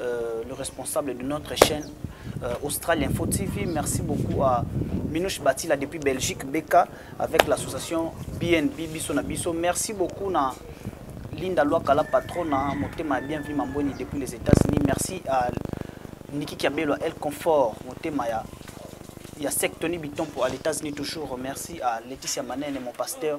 Euh, le responsable de notre chaîne euh, Australien Info TV. Merci beaucoup à Minouche Batila depuis Belgique, Beka, avec l'association BNB Bisso na Bisso. Merci beaucoup na Linda Loakala, patronne, hein, Motema Bienvenue Mamboni depuis les États-Unis. Merci à Niki Kiabelo, El Confort, Motema ya il y a Sec Tony Biton pour les États-Unis toujours. Merci à Laetitia Manen et mon pasteur.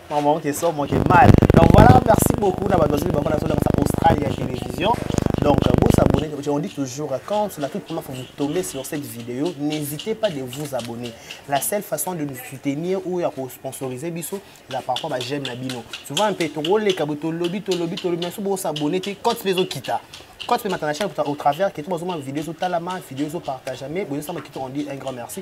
maman te so moke mal donc voilà merci beaucoup na bato bazali bango nazolakisa australie ya télévision donc vous abonnez on dit toujours quand la toute première fois vous tombez sur cette vidéo n'hésitez pas de vous abonner la seule façon de nous soutenir ou ya kosponsoriser biso eza par rapport j'aime na bino souvent mpe tokoleka bo tolobi tolobi tolobi naso bosabonne te cote mpe ezokita cote mpe matana chaine au travers keto bazomona video ezotalama video ezopartage mais bozosamba kito on dit un grand merci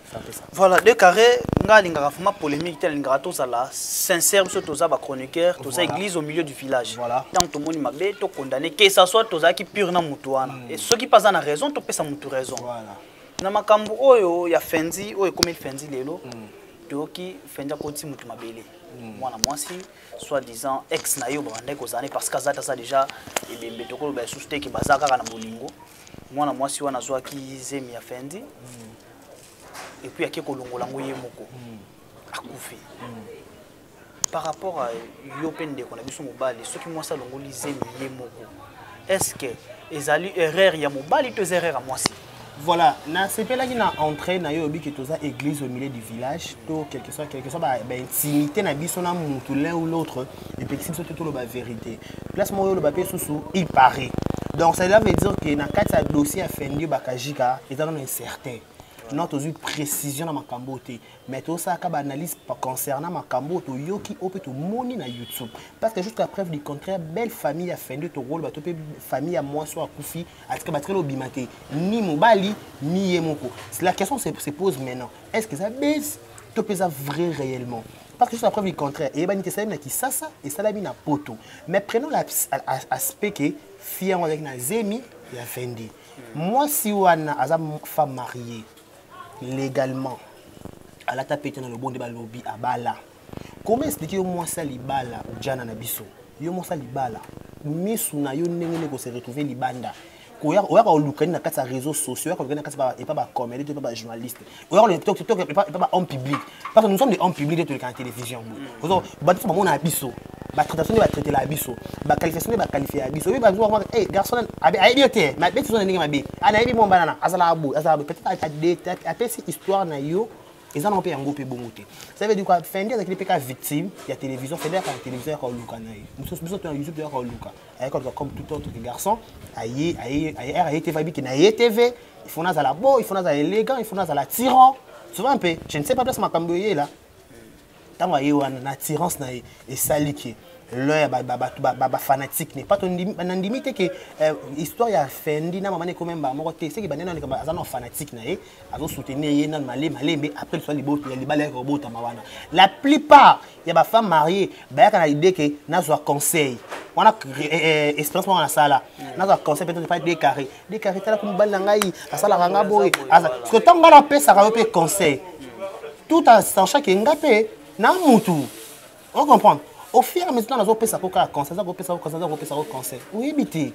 voilà deux carré nga alingaka vraiment polémique te alingaka tozala sincère biso toza bachroniqueur toza église au milieu du village ntango tomoni mabe tokondane que ça soit tozalaki pure na motu wana hmm. soki mpe aza na raison topesa motu raison na makambo oyo ya fendi oyo ekomeli fendi lelo hmm. toyoki fendi akoti motu mabele hmm. mwana mwasi soit disant ex na ye oyo babandaki kozala ne parce que aza taza déjà ebembe tokoloba lisusu te ke baza kaka na bolingo mwana mwasi wana azwaki zemi ya fendi epuis ake kolongola yango ye moko hmm. akufi hmm. par rapport a yo mpe ndeko na biso mobali soki mwasi alongoli zemi ye moko est ce que ezali erreur ya mobali to eza erreur ya mwasi voilà nasepelaki na entrée na yo oyebi ke toza église au milieu du village to quelque soit quelque soit baintimité na biso na mutu l'un ou l'autre epekisi biso te toloba verité place moko yoloba mpe susu il parait donc cela veut dire que na kati ya dossier ya fendi bakajika eza nano incertain non tozwi précision na makambo oyo te mais tosalaka baanalyse concernant makambo oyo toyoki oyo mpe tomoni na youtube parce que jusqu'à preuve du contraire belle famille ya fendi tokoloba to mpe famille ya mwasi oyo akufi atika batikali obima te ni mobali ni ye moko la question se pose maintenant est ce que eza base to mpe eza vrai réellement Parce que juste la preuve du contraire. Et Ebani Tessalem na Kisasa et Salami na Poto. Mais prenons l'aspect que Fian avec na Zemi ya Fendi. Moi si wana aza femme mariée légalement à la tapette dans le bon débat lobby à bala. Comment expliquer moi ça libala ou Jana na biso? Yo moi ça libala. Misu na yo ndenge ne ko se retrouver libanda. oyaka koluka nini na kati ya réseau sociaux oyaka koluka na kati epa bacomédie to epa bajournaliste oyaka koluka epa bahomme public parce que nous sommes des hommes public nde toleka na télévision boye bato so bamonaka biso batraitation nde batraitela biso baqualification nde baqualifie ya biso oyebi bazoa e garçon ayebi yo te mabe tizo na ndenge mabe anayebi mwa banana azalaka boye azalaka boye peut-être apesi histoire na yo eza nango mpe yango mpe bongo te ça veut dire quoi fendi azakili mpe ka victime ya télévision fendi ayaka na télévision yaka oluka na ye biso tona youtube toyaka oluka ayaki koluka comme tout autre garçon aye aye aye aye tv ayebiki na ye tv il faut nazala beau il faut nazala élégant il faut nazala tyran souvent mpe je ne sais pas place makambo eyela ntango aye wana na attirance na ye esali ke l'un ya bafanatique ne pas nandimi te ke euh, histoire ya fendi na mama nekomi mbaa moko te seki bande nandika aza na fanatique na ye azosoutenir ye nanu male malembe après liswa ya libala yaka kobotama wana la plupart ya ba femme mariée bayaka na idée ke nazwa conseil wana eh, eh, expérience moko nasala nazwa conseil peut-être epai decarré decarré talaka mobali na ngai asalaka nga boye parceke ntango ngai napesaka yo mpe conseil tout en sachant ke nga mpe na mutu ocomprendre au fur et à mesure nazopesa ko kaka conseil aza kopesa ko conseil aza kopesa ko conseil oyebi te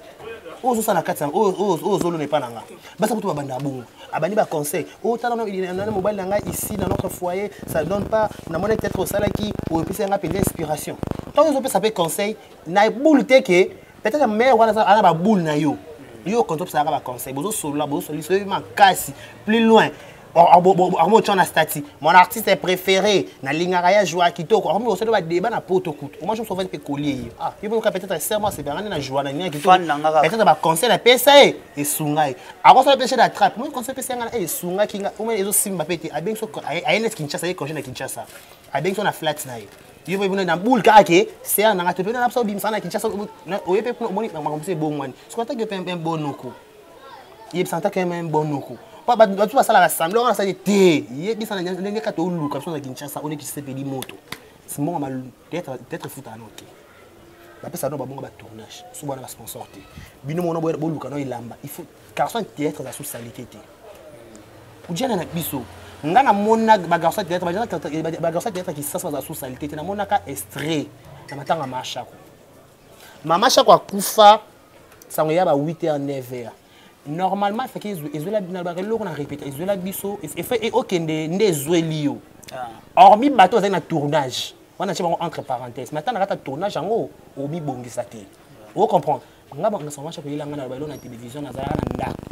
oyo ozosala na kati oyo ozolona epa na nga basa kutu babanda bongo abandi baconseil oyo oh, tala na mobali na ngai ici na notre foyer ça donne pas namoni peut-être osalaki oyo epesi yanga mpenza inspiration ntango ozopesa mpe conseil na boule te ke peut-être mare wana aza baboule na yo yo konti opesalaka baconseil bozosolola bozosolola lisoyebi makasi plus loin akomotya na stati mon artiste préféré nalingaka ye ajoua kitoko akomi kosala badeba na poto kutu omwa jour sofete mpe kolie ye ah ye boyoka peut-être serment asepelaka nde na joua na ngai kitoko peut-être baconseil apesa ye esunga ye akosala mpe chez la trappe moi conseil epesa ye ngai esungaki ngai omwe ezosimba mpe te abengi so aye neti kinshasa ye congé na kinshasa abengi so na flat na ye yo mpe kuna na boule kaka ke ser na ngai te mpe na biso obimisa na kinshasa oye mpe kuna omoni makambo mosusu ebongwani soki ataki yo mpe mpe bonoko yebisa ata keme bonoko mpo bato basalaka semblant wana asali te yebisa na ndenge kaka toluka biso na kinshasa one kisepeli moto simonga peut-être efutaka no te bapesa no babonga batournage so bwana basponsor te bino mona boluka no elamba il faut garçon théâtre aza sous salite te ojana na biso nga namona bagarçon théâtre bagarçon théâtre kisasa baza sous salite te namonaka estrait na matanga mashako mama shako akufa sango ya ba 8 heures 9 heures normalement efaki ezwela nalobaka eloko na répéta ezwela biso e, okende nde ezweli yo ah. hormis bato bazali na tournage wana tie bango entre parenthèse mais ata na kata tournage yango obibongisa te o comprendre nga bangasango shako yelanga na loba na télévision nazalaka na ndako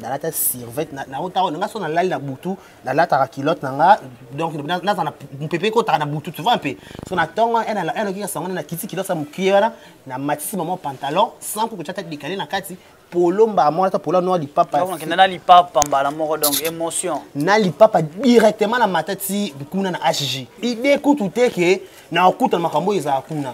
nalata sirvete naotao nanga so nalali na butu nalataka kilote na nga donc naza na mpepe ekotaka na butu tu vois mpe so na ntongo elokika eh, sango na kiti kilote ya mokie wana na matisi mama pantalon sans kokotya ta likale na kati polo mbala moko ata polo noa lipapakende na lipapa mbala moko donc émotion na lipapa directement na mata ti kuna na hg ide kutu te ke na okutana makambo oyo ezala kuna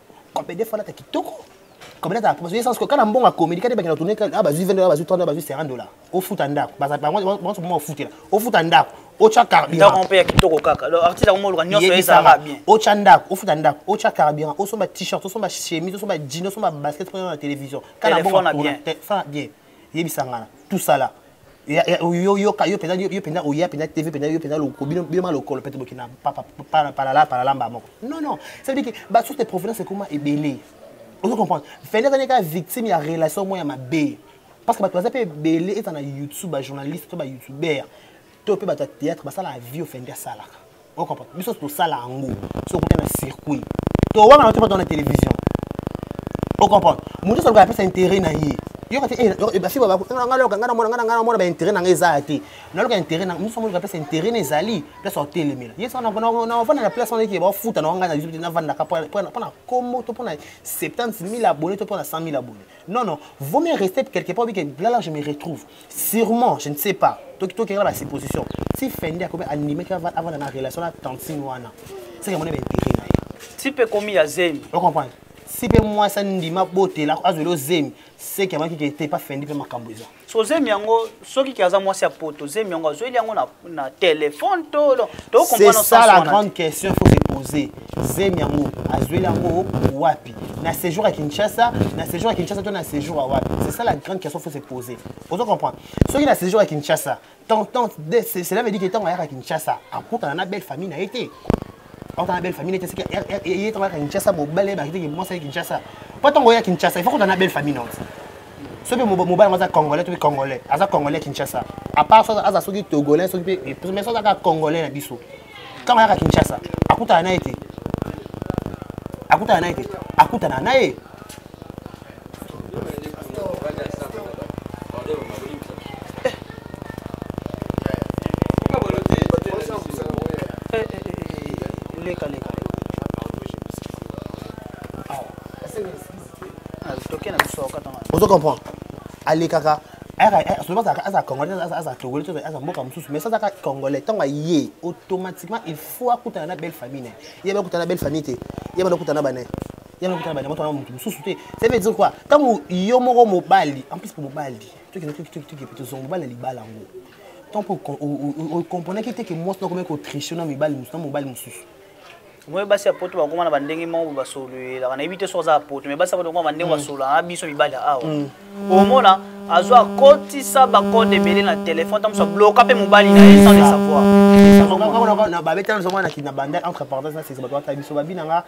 Kabede falata kitoko. Kabede ta parce que sans que kana mbonga communiquer te bakina tourner ah bazui 20 dollars bazui 30 dollars bazui 50 dollars. Ofuta ndako. Baza bango bango mo ofutela. Ofuta ndako. Ocha carburant. Ndako mpe ya kitoko kaka. Le artiste akomo luka nyonso ezala bien. Ocha ndako, ofuta ndako, ocha carburant, osomba t-shirt, osomba chemise, osomba jean, osomba basket pour la télévision. Kana mbonga bien. Fa bien. yebisa ngana tout ça là oyoka yo mpenza yo mpenza oya mpenza tv mpenza yo mpenza bino bino malokolo mpe toboki na palala palala mba moko non non ça veut dire que basource de provenance ekoma ebele ozo comprendre fende azali kaka victime ya relation moko ya mabe parce que bato baza mpe ebele eza na youtube bajournaliste to bayoutubeur to mpe bato ya théâtre basalaka vie ofendi asalaka okomprendre biso tosala yango so okuta na circuit towanga na topata na télévision okomprendre moto nyonso aloka apesa intérêt na ye yoka te eh, eh, basi nga loka nga namona nga nga namona baintérêt na nga eza ya te naloka intérêt na mosu amoni kapesa intérêt na ezali place otelemela ye saka navanda na place wana eke bafuta na wanga na biso te navandaka mpo na kombo to mpo na 70 000 abonné to mpo na 100 000 abonné non non vaut mieux rester quelque part obike là là je me retrouve sûrement je ne sais pas tokenda ba supposition ti fende akomi animeki avanda na relation na tantine wana seke amoni baintérêt na ye ti mpe komi ya zemi ocomprendre si mpe mwasi andima botela azweli ozemi seke amaki ke te pa fendi mpe makambo eza so zemi yango soki ke aza mwasi ya poto zemi yango azweli yango na na telefone c'est ça la grande question faut se poser zemi yango azweli yango wapi na séjour à kinshasa na séjour à kinshasa to na séjour à wapi c'est ça la grande question faut se poser ozo comprendre soki na séjour à kinshasa cela veut dire que ntango ayaka kinshasa akutana na belle famille na ye te okana belle famille neti asiki ye ntango yaka kinshasa mobali yebaki te mwasi ya kinshasa mpo ntango oya kinshasa ifo kota na belle famille nonso soki mobali yango aza congolais to mpe congolais aza congolais kinshasa apart soki aza soki togolais soki mpe mais soki azaka congolais na biso ntango ayaka kinshasa akutana na ye te akutana na ye te akutana na ye ozo comprendre alekaka aza congolais aza togolais aza mboka mosusu mais azaka congolais ntango aye automatiquement il faut akutana na belle famille na ye ye bakutana na belle famille te ye bana okutana na bana yana okutana banyama twana motu mosusu te ça veut dire quoi ntango yo moko mobali en plus mpo mobali tokitokitokitokitoki tozonga mobali na libala yango ntango mpo okomponaki te ke mwasi nakomaki kotriche na mibali mosusu na mobali mosusu moi basi ya poto bakoma na bandenge moko basololelaka nayebi te soki aza ya poto mai basi ya poto bakoma bandenge mm. basololaka na biso mibali ya awa mm. omona azwa akotisa bakode ebele na telefone tamoso abloka mpe mobali na ye sans le savoir babetana na banda entre parenthèse na sese bato batala biso babi na nga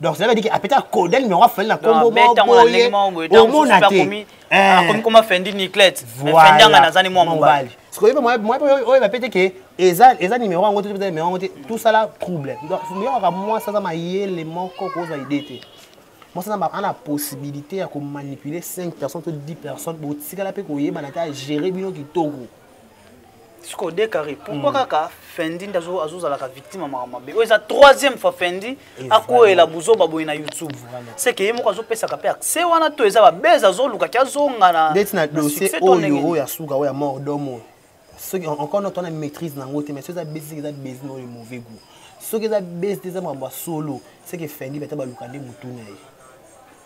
donc cela veut dire que apeta koda numéro afali na kombo boye omona te akomi eh. koma fendi niclette fendi anga nazani mwa mobali sikoyo mpe mwa mpe oyo bapete ke eza eza numéro yango te eza numéro yango te tout ça là trouble donc yokaka mwasi aza mayele moko kozwa idée te mwasi aza ana possibilité ya komanipuler 5 personnes to 10 personnes botikala mpe koyebana te agere bino kitoko sikoyo de carré pourquoi hmm. kaka fendi nde azozalaka victime ya makambo mabe oyo eza troisième fois fendi akweyela buzoba boye na youtube seke ye moko azopesaka mpe accès wana to eza babese azoluka ki azonga na ndeti na dossier oyo oyo ya suka oyo ya mort dom oyo soki encore noto wana maîtrise na yango te mais soki eza besi eza besi na oyo mauvais goût soki eza besi te eza makambo ya solo seke fendi bata baluka nde motu na ye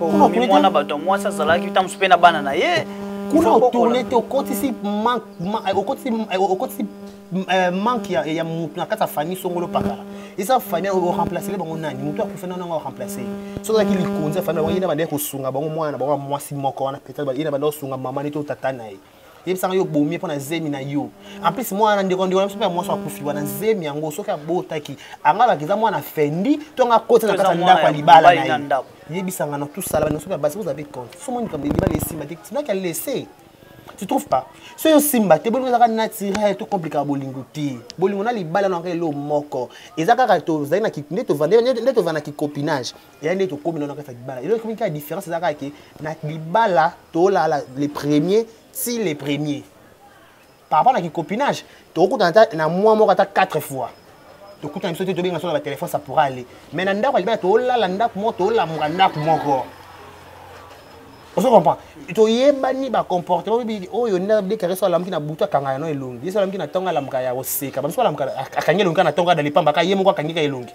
okomi mwana bato ya mwasi azalaki ntango mosusu mpe na bana na ye kuna otourne te okotisi okotisi manque ya motu na kati ya famille songolo pakala eza famille oremplacele bango nani motu akufa nano yango oremplace soki ozalaki likonzi ya famille bango ye na bandaki kosunga bango mwana na bango ya mwasi moko wana peut-être ye na bandaki kosunga mama nete otata na ye yebisanga yo obomi ye mpo na zemi na yo en plus mwana ndeko ndeko na biso mpe ya mwasi akufi wana zemi yango soki abotaki anga baki eza mwana fendi to anga koti na kati ya ndako ya libala na ye yebisanga na tusala bana soki ya basi ozala compte so moni kambo libala esimba te tinaki ya lese tu trouve pas so yo simba te bolingo ezaka naturel to complikaka bolingo te bolingo na libala na yango elo moko eza kaka tozali nde tovanda na kicopinage ya nde tokomi nano kati ya libala eloko ekomi kaka différence eza kaka ke na libala tolala le premier ti le premier par rapport na kicopinage tokokutana ata na mwa moko ata 4 fois tokutana biso te tobenga so na batelefone ça pourra aller mais na ndako ya libala tolala ndako moko tolamuka ndako moko ozo comprend toyebani bacomportement oyebi oyo nde abdekare so alamuki na butu akanga yano elongi ye so alamuki na ntongo alamuka ya koseka bamiso alamuka akangi elongi kaka na ntongo adali pamba kaka ye moko akangi kaka elongi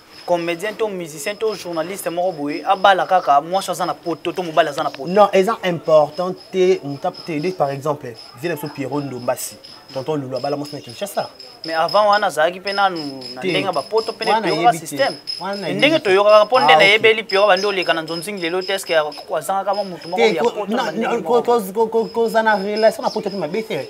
comédien to musicien to journaliste moko boye abala kaka mwasi aza na poto to mobali aza na poto non eza important te motape te nde par exemple zela biso pierrot ndombasi tonton lulu abala mwasi na kinshasa mais avant wana azalaki mpe nanu na ndenge ya bapoto mpe nepiyoka système ndenge toyokaka mpo nde ah, nayebeli piyo bandi oleka na nzonzingi lelo te eske azangaka mwa motu moko ya poto kozana relation na poto mpe mabe te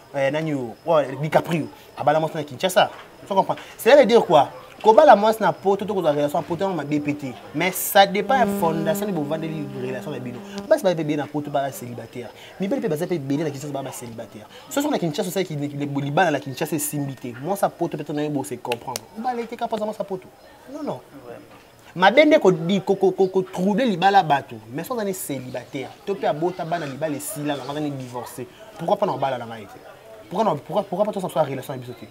eh, nani oyo oh, oh, dicaprio abala mwasi na kinshasa so comprendre cela veut dire quoi kobala mwasi na poto to kozwa relation ya poto yango mabe mpe te mais ça dépend ya fondation nde bovandeli relation na bino basi baza mpe bele na poto baa célibataire mibali mpe baza mpe bele na kinshasa baa bacélibataire soki na kinshasa osalaki libala na kinshasa esimbi te mwasi ya poto mpe to nayo bose comprendre obala eteka mpoza mwasi ya poto non non mabe nde kotrouble libala bato mais so aza ne célibataire to mpe abota bana libala esila nango aza ne divorce pourquoi mpo na kobala na ngai te pourquoi pas tosala relation na biso te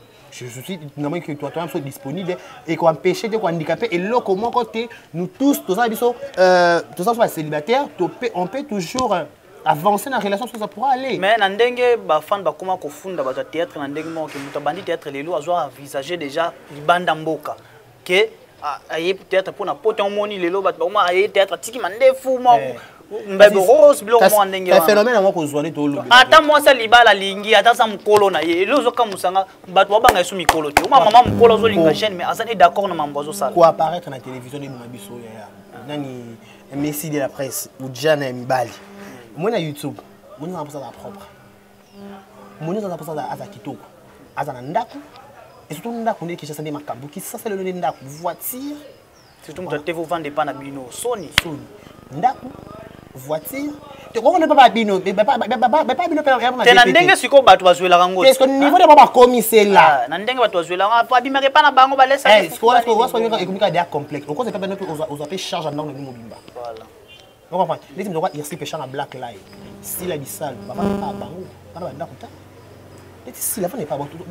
namoni ke toa biso disponible ekoempêche te kohandikape eloko moko te nous tous toza biso euh, toza biso bacélibataire on peut toujours euh, avancer na relation soki pourra aller mais na ndenge bafane bakoma kofunda bato ya théâtre na ndenge moko ke moto abandi théâtre lelo azwa envisage déjà libanda mboka ke aye théâtre mpo na poto omoni lelo bato bakoma aye théâtre atiki mandefu mwa eh. mbebe rose biloko mwa ndenge wanaphénomène yango kozwa nde tolobi ata mwasi alibala alingi ata aza mokolo na ye elo ozokamusanga bato babanga esu mikolo te oma mama mokolo azolinga jeune mais aza ne d'accord na mambo azosala koapparaître na télévision nde mona biso yaya nani messi de la presse ujana ya mibali omoni na youtube moni mambo azala propre moninga aza mposa aza kitoko aza na ndako esoto ndako nde kinshasa nde makambo kisasa lelo nde ndako voiture surtout moto ate vovanda epa na bino soni soni ndako voiture tokomona epa babino epa bino te na ndenge sikoyo bato bazwelaka ngo eske niveau nde babakomisela ah, na ndenge bato bazwelaka po abimaka epa na bango balesaka ekomi kaka deya complexe okoza epa bino mpe ozwa mpe charge ya ndako na bino mobimba okomprendre neti moto oka irsi peshanga black live sila bisalu bavanda bango bana bandako ta neti sila vanda epa baotoki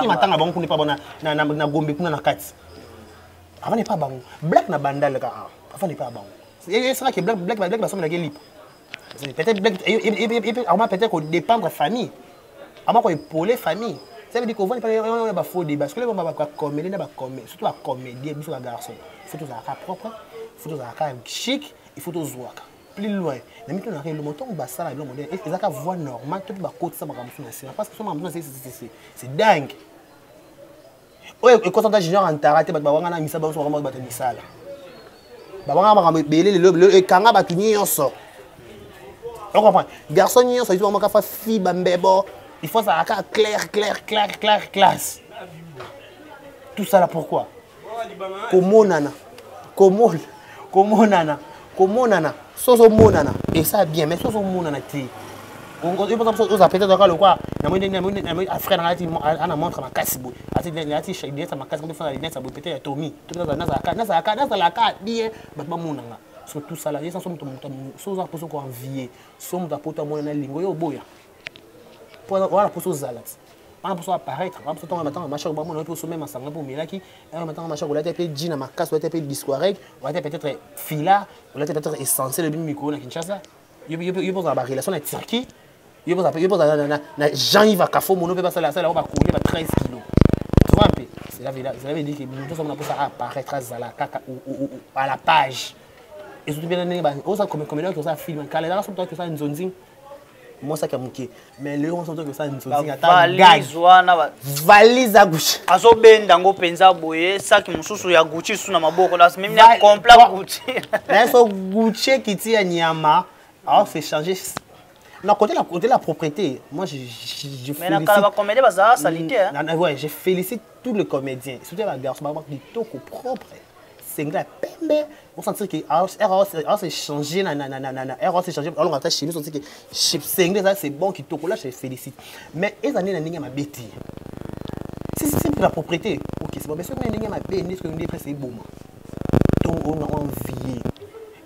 matanga bango kuna epa bona na gombe kuna na kati avanda epa bango black na bandal kaka avanda epa bango esaka ke black black black basomelaki lipa peut-être black akoma peut-être kodépendre famille akoma koepole famille ça veut dire kovandi mpana bafaux débat parce que leko bacomédie na bacomé surtout bacomédien biso bagarçon faut tozalaka propre faut tozalaka chic il faut tozwaka plus loin na mito naka elongo ntango basala elongo nde ezalaka voie normale to mpe bakotisa makambo mosusu na nsima parce que so makambo mosusu na se c'est dingue oyo ekosa ta junior antara te bato bawangana misa banso bakamaki bato misala bawangana makambo ebele lelo ekanga bato nyonso ocomprendre garçon nyonso ayizi bakamaka fa fi bambebo il faut azala kaka claire claire claire claire classe tout ça là pourquoi komonana komona komonana komonana so ozomonana esa bien mais so ozomonana te oza peut-être oyoka lokwa namoni afrika nanga ana montre makasi boye ati lunete ya makasi kofana lunete ya boye peut-être ya tomi nazalaka bien bato bamonanga so tosala ye sanso moto moto so oza mposo koenvie so moto apoto amonana lingo yo oboya mpo wana mposa ozala ti wana mposa apparaître wana mposa ntango matanga mashako bamona yo mpe osome masanga mpe omelaki wana matanga mashako olati mpe jina makasi olati mpe discoarec olati peut-être fila olati peut-être essentiel ebimi mikolo na kinshasa yo mpe ozala barelation na turquie yo mpe ozala na jean iva kafo mono mpe basala asala yango bakolie ba 13 kilo ozoa mpe cela veut dire que moto osamona mposa apparaître azala kaka à la page ezoki mpe na ndenge oza komela oki osala film kala ezaka soki toaki osala nzonzing mwa saki ya moke mais lelo nyonso toki kosala nzonzingavalise ya gucci azobenda yango mpenza boye saki mosusu ya gucci lisusu na maboko compla gucci naye so gucci ekiti ya nyama aose change na côté la côté la propriété moi je je, je mais na kala ba comédien baza salite hein ouais je félicite tous les comédiens surtout la garçon ba kitoko propre sengla ya pembe osantir ke aose change aose change alonga ata chemise osantike sengla eza c'est bon kitoko la félicite mais eza nde na ndenge ya mabe te c'est la propriété ok c'est bon mais soki na ndenge ya mabe nde soki nde presse eboma to ona envie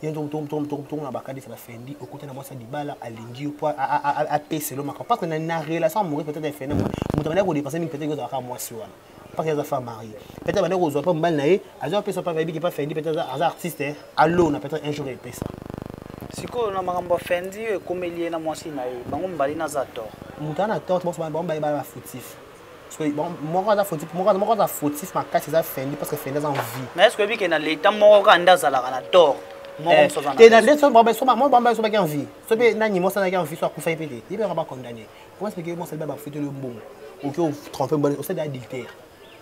ye ntongo na bakanisa bafendi okuta na mwasi ya libala alingi yo mpo apeselo makambo parce que na relation amoureuse peut-être ya fendi moto abandaki kodepense mingi peut-être ozalaka mwasi wana paka aza femme marie peut-être abandaki kozwa mpe mobali na ye azwa apesa mpe ayebi kipa fendi peut-être aza artiste eh. alona peut-être un jour epesa sikoyo na makambo ya fendi oyo ekomeli ye na mwasi na ye bango mibali naza tort moto ana tort bango mibali bana bafutif moko aza fautif moko aza fautif makasi eza fendi parce que fendi aza en vie mais est ce que oyebi ke na leta moko kaka nde azalaka na tort eh, te na nde soki bambaye sobaki en vie soki nani mosanaki en vie so akufaki mpe te ye mpe yaka bacondamne Comment expliquer moi ça va foutre le bon. OK, on trompe bon, on sait d'adultère.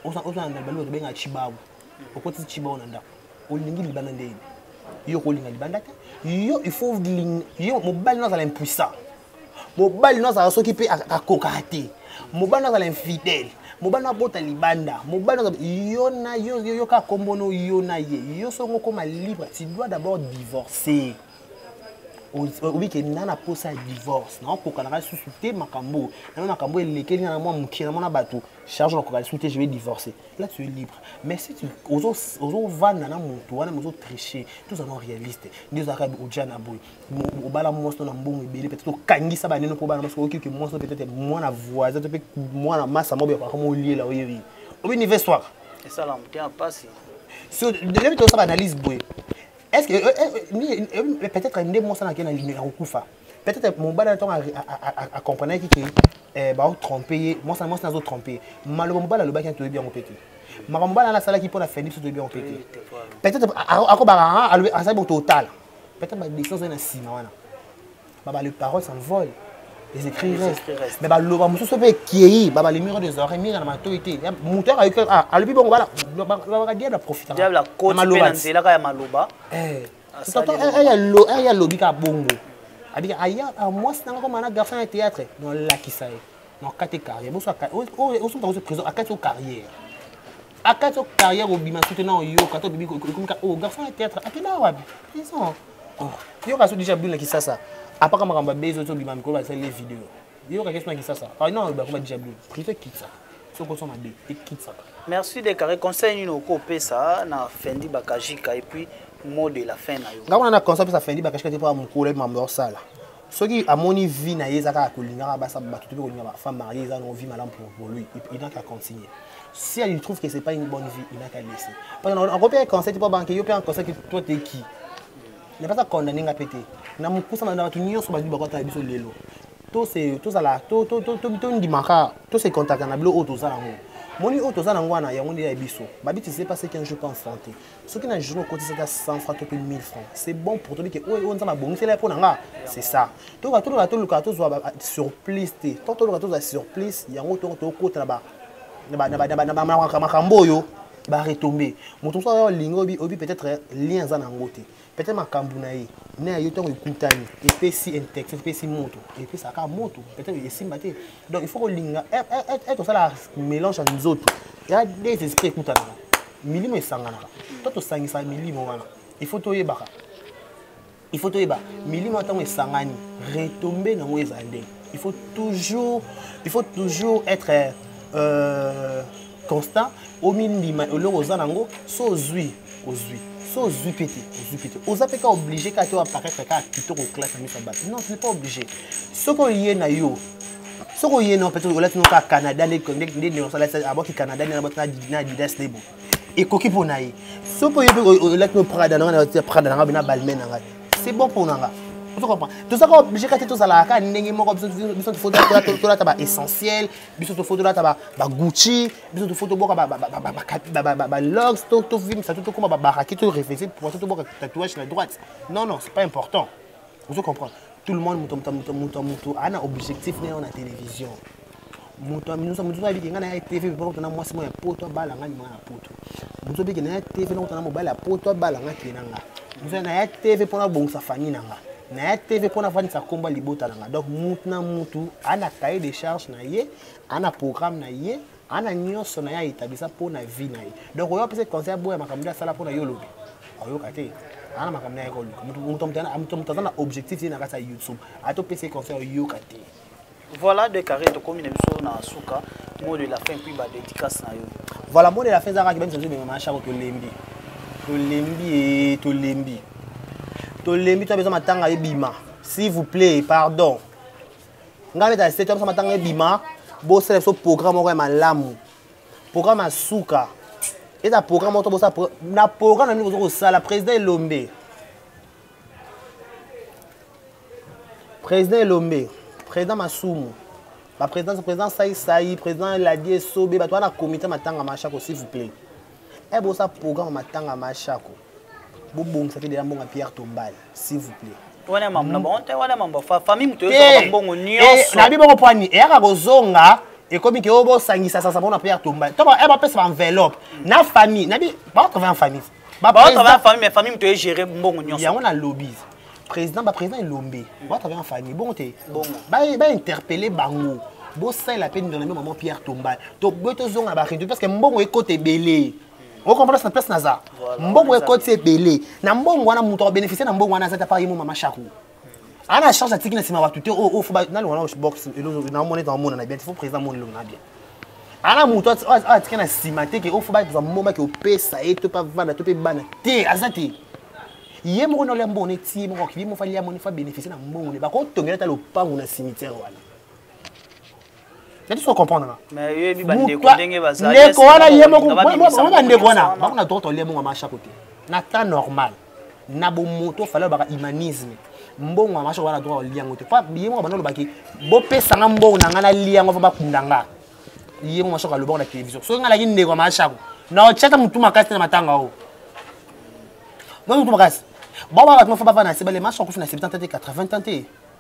On s'en on s'en dans le bien à Chibabu. Au côté de Chibabu on a. On lingi le banane ndé. Yo ko linga le banane. Yo il faut ling yo mo bal non ça l'impuissant. Mo bal non ça soki pe à kokate. Mo bal non ça l'infidèle. mobali na abota libanda mobali na yo na yo yo ka kombono yo na ye yo songo koma libre tu dois d'abord divorcer oyebi ke na na mposa ya divorce naokokanaka lisusu te makambo nano makambo elekeli na mwa mokie na mona bato charge nakoka lisusu te je vais divorcer là tu es libre mais si ozovanda na moto wana mozotriche tozana réaliste nde ozalaka oja na boye obala mwasi to na mbongo ebele peut-être okangisa baneno mpo bana mwasi oyoki ke mwasi peut-être mwana voisin to mpe mwana masa moko yakaka moliela oyebi obi nive soir esala motema mpasi so ndebi tosala analyse boye est ce que euh, euh, euh, peut être nde mwasi anake ya kokufa peut être mobali na ntongo acomprenaki ke eh, baotrompe ye mwasi na mwasi nazo trompe ye maloba mobali alobaki nani toyebi yango mpe te makambo mobali ana asalaki mpo na fendi biso toyebi yango mpe te peut être akobaka asali bo totala peut être badescision ezali na nsima wana baba les paroles s'envolent les écrits restent mais baloba mosusu mpe ekei baba les murs des oreilles minga na matoi te moto yaka ah, alobi bongo babaka diable aprofitana maloba aya alobi kaka bongo abika aya ah, mwasi nanga koma na garçon ya théâtre nolakisa ye nokati carrière osuka ozo prison akati o carrière akati o carrière obima sote na oyoka to obibi okomika o oh, garçon ya théâtre akenda wapi prison oh. yo kasi odija bino kisasa apaka makambo abezi ozo bima mikolo basali le video yo kaki sona kisasa ah non bakoma dija bino prive kitsa soki ozo mabe ekitsaka merci de carré conseil nini oko opesa na fendi bakajika et puis mot de la fin na yo nga kuna na conseil opesa fendi bakajika te mpo ya mokolo mambo ya osala soki amoni vie na ye eza kaka kolingaka basa bato te mpe kolinga bafemme marie eza nango vie malamu pour, pour lui il n'a qu'à continuer si elle trouve que c'est pas une bonne vie il n'a qu'à laisser parce que ako mpe conseil te mpo banke yo mpe en conseil toi te qui na mpasa condamne nga mpe te na mokusa na bato nyonso bazwi bakwata na biso lelo tozala tondimaka tose contacta na bilo oyo toza yango moni oyo toza nango wana yango nde ya biso babitise pas ce qu'un jour pas enfante soki na journée okotisa ata 100 francs to mpe 1000 francs c'est bon pour tobi ke oyo oyo nzambe abongisela ye mpo na nga c'est ça toyoka toluka toluka tozwa surplus te tant toluka tozwa surplus yango tongo tokota na makambo oyo baretombe moto mosusu aza olingi obi peut-être lien aza na yango te pete makambo na ye na ya yo ntango ekutani epesi intect epesi moto epesaka moto pete esimba te donc il faut kolinga eh, eh, eh, ete osala mélange ya nzoto ya des esprit ekutanaka milimo esanganaka to tosangisa milimo wana il faut toyebaka il faut toyeba milimo ntango esangani retombe nango ezala ndenge il faut toujours il faut toujours être euh, constant omindima eloko oza nango so ozwi ozwi so ozwi mpe te ozwi mpe te oza mpe ka oblige kaka te wapakaka kaka kitoko oklasa miso ya bato non tu n'es pas oblige soki oye na yo soki oye na yo peut-être olati no kaka canada nde neosalati abwaki canada nde nabwaki na adidas lebo ekoki mpo na ye soki oye mpe olati no prada na ngai na prada na ngai na balmain na ngai c'est bon mpo na ngai tozaka oblige kaka te tozalaka kaka ndenge moko biso tolata ba essentiel biso tofoto lata bagucci biso tofoto boka balogs tovimisa to tokoma babaraki to reflexe poisson toboka tatouage na droite non non c'est pas important ozo comprendre tout le monde moto moto ana objectif na yo na télévision moto moto abiki ngai na ya tv mpo tona mwasi moko ya poto abala ngai mwana ya poto bozo biki na ya tv nakota na mobali ya poto abala nga kee na nga bozo na ya tv mpo nabongisa fani na nga na ya tv mpo nafandisa nkombo ya libota na nga donc mutu na mutu ana cahier de charge na ye ana programme na ye ana nyonso na ye aetabisa mpo na vie na ye donc oyo apesa conseil aboya makambo nde asala mpo na yo olobi ayoka te ana makambo na ye koluka moto aza na objectif ye na kati ya youtube ata opesa conseil oyoka te Voilà deux carrés tokomi na biso na suka mot de la fin puis ba dédicace na yo. Voilà mot de la fin ezalaka kibemisa biso bimema shako tolembi tolembi e tolembi tolembi to apesa matanga ebima s'il vous plaît pardon ngai beta se to apesa matanga ebima bosala biso programme moko ya malamu programme ya suka eza programme moko to bosala na programme na nini boza kosala président elombe président elombe président masumu baprésident président saisai président ladie sobe bato wana komite matanga mashako s'il vous plaît e bosa programme matanga mashako bobongisa mpe deya mbongo ya pierre tombale s'il vous plaît wana mambo na bango te wana mambo famille moto eyoka mbongo nyonso nabi bongo mpo ani eyaka kozonga ekomi ke oyo bosangisa sasa mpona pierre tombale to bapesa baenveloppe na famille nabi bakoka famille baoto ba famille mais famille moto egere mbongo nyonso yango na lobi président baprésident elombe baoto abaa famille bongo te bainterpele bango bosalela mpe ndona mpe mama pierre tomba toboye tozonga baredio parce que mbongo ekota ebele okomprendre na place naza mbongo ekoti ebele na mbongo wana moto akobénéficie na mbongo wana aza te apa ye mo mama chaku aa na charge atiki na nsima bato te oyo ofo nani wana box naomona ete amona na bien te fo président amoni elongo na bien ana moto atiki na nsima te ke ofo bakozwa mbomba ke opesa ye to mpe avanda to mpe bana te aza te ye moko naolia mbongo ne ti ye moko akili moko falia moni fa bénéficie na mbongo ne bakotongela ata lopango na cimetière wana nati soko comprendre nga ndeko wana ye mokobandeko wana bango na droit olie mongo masha kote na temps normal na bomoto fale olobaka humanisme mbongo ya masha wana droit olie yango te po ye moko banda olobaki bopesa nga mbongo na nga nalie yango fa bakunda nga ye moko masoko alobaka na télévision soki nga nalaki ndeko ya mashako na otyata motu makasi te na matanga oyo motumakasi bawa bato mafo bavanda na se bale masoko akufi na 70 te 80 te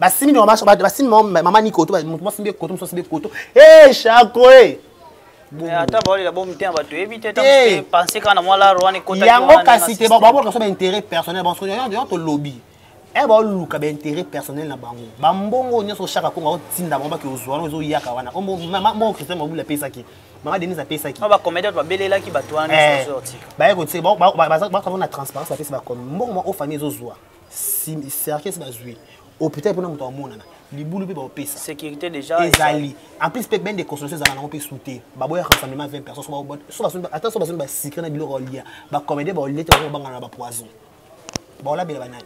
basimbi mama basimbi mama ni koto moto mosimbi koto mosusu asimbi koto e shako e eh, ata baolela bo mitema bato yebi te eh. pense kaka na mwa laro wana ekota yango kasi te babolaka so baintérêt personnel banso yango tolobi e baoluka baintérêt personnel na bango bambongo nyonso oshaka kongo aotinda bango bake ozwa wana ozoyaka wana moko christian mabula apesaki mama denis apesaki bacomédien babelelaki bato wana baye kotie baza na transparence bapesi bakome mbongo ma o famille ezozwa cercueil bazwi hôpital mpona moto amonana libulu mpe baopesa sécurité déjà ezali en plus mpe bende consommation ezalaka nango mpe su te baboya rassemblement 20 personnes ata so basoni basikre na biloko olia bacomédie baolie te bango babangana na bapoison baolabela banani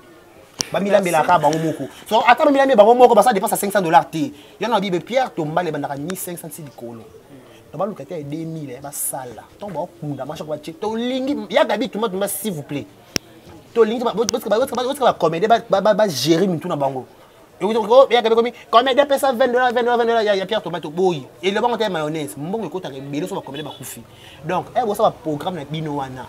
bamilambelaka bango moko so ata bamilambe bango moko basala dépense ya 500 dollars te yango na bible pierre tombala ebandaka 1500 ti likolo na baluka te ya 2000 basala ntango baokunda mashako batie tolingi ya gabi tumatumba s'il vous plaît tolingi botika bacomédien bagere mitu na bango eyaka ekomi comédien apesa 20 dola 20 dola 20 dola ya pierre tomato boyi elobanga te ya mayonnaise mbongo ekotaka ebele so bacomédien bakufi donc e bosala baprogramme na bino wana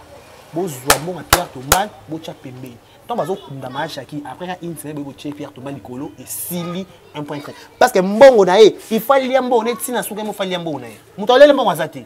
bozwa mbongo ya pierre tomate botya pembeni ntango bazokunda maashaki après ya une semaine boye botie pierre toma likolo esili un point très parce que mbongo na ye ifali ya mbongo neti na suka ye mofali ya mbongo na ye moto alele mbongo aza te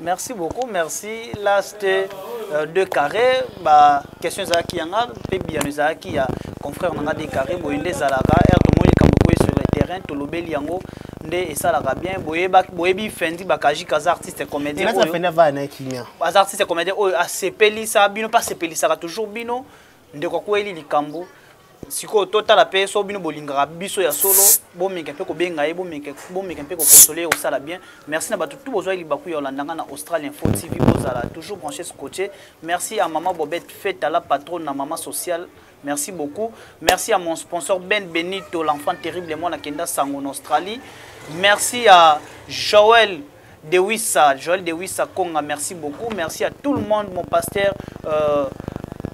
merci beaucoup merci last euh, de carré ba question ezalaki yanga mpe biyano ezalaki ya confrère nanga de carré boye nde ezalaka r tomoni likambo koye sur le terrain tolobeli yango nde esalaka bien boyebi fendi bakajika aza artiste comédien aza artiste comédien oyo asepelisa bino mpe asepelisaka toujours bino ndeko akweli likambo sikoyo totala mpe so bino bolingaka biso ya solo bomeka mpe kobenga ye bomeka mpe kokonsole ye kosala bien merci na bato tu bozwaki libaku ya olandanga na australien fo tv bozala toujours branche scotie merci à maman bobette feta la patronne na maman sociale merci beaucoup merci à mon sponsor ben benito l'enfant terrible mwana kenda sango na australie merci à joel Dewissa, Joël Dewissa Konga, merci beaucoup. Merci à tout le monde, mon pasteur, euh,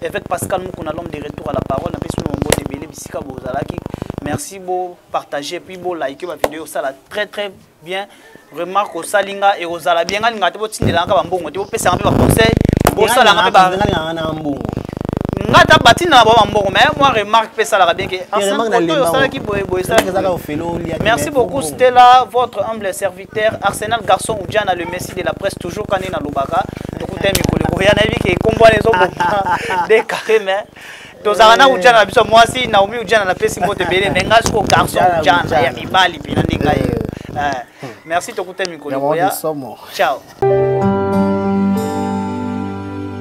évêque Pascal Moukouna, l'homme de retour à la parole. Merci, beau partager, puis beau liker ma vidéo, ça la très très bien. Remarque au Salinga et aux Alabiens, il y a des gens qui ont des bons conseils, ils ont des conseils, ils ont des conseils, ils ont des conseils, nga ata batini na bango mbongo mais moi remarque mpe esalaka bien ke ensemble osalaki boye boye esalaki merci beaucoup stella votre humble service Terre Arsenal garçon ou Diana le Messi de la presse toujours quand na lobaka tokuta mikolo ekoya na yebi ke kombo wana ezoboma de carré mais tozalaka na ujana na biso mwasi naomi ujana napesi mbote ebele me ngai soko garçon ujana ya mibali mpena nde ngai merci tokuta mikolo ya ciao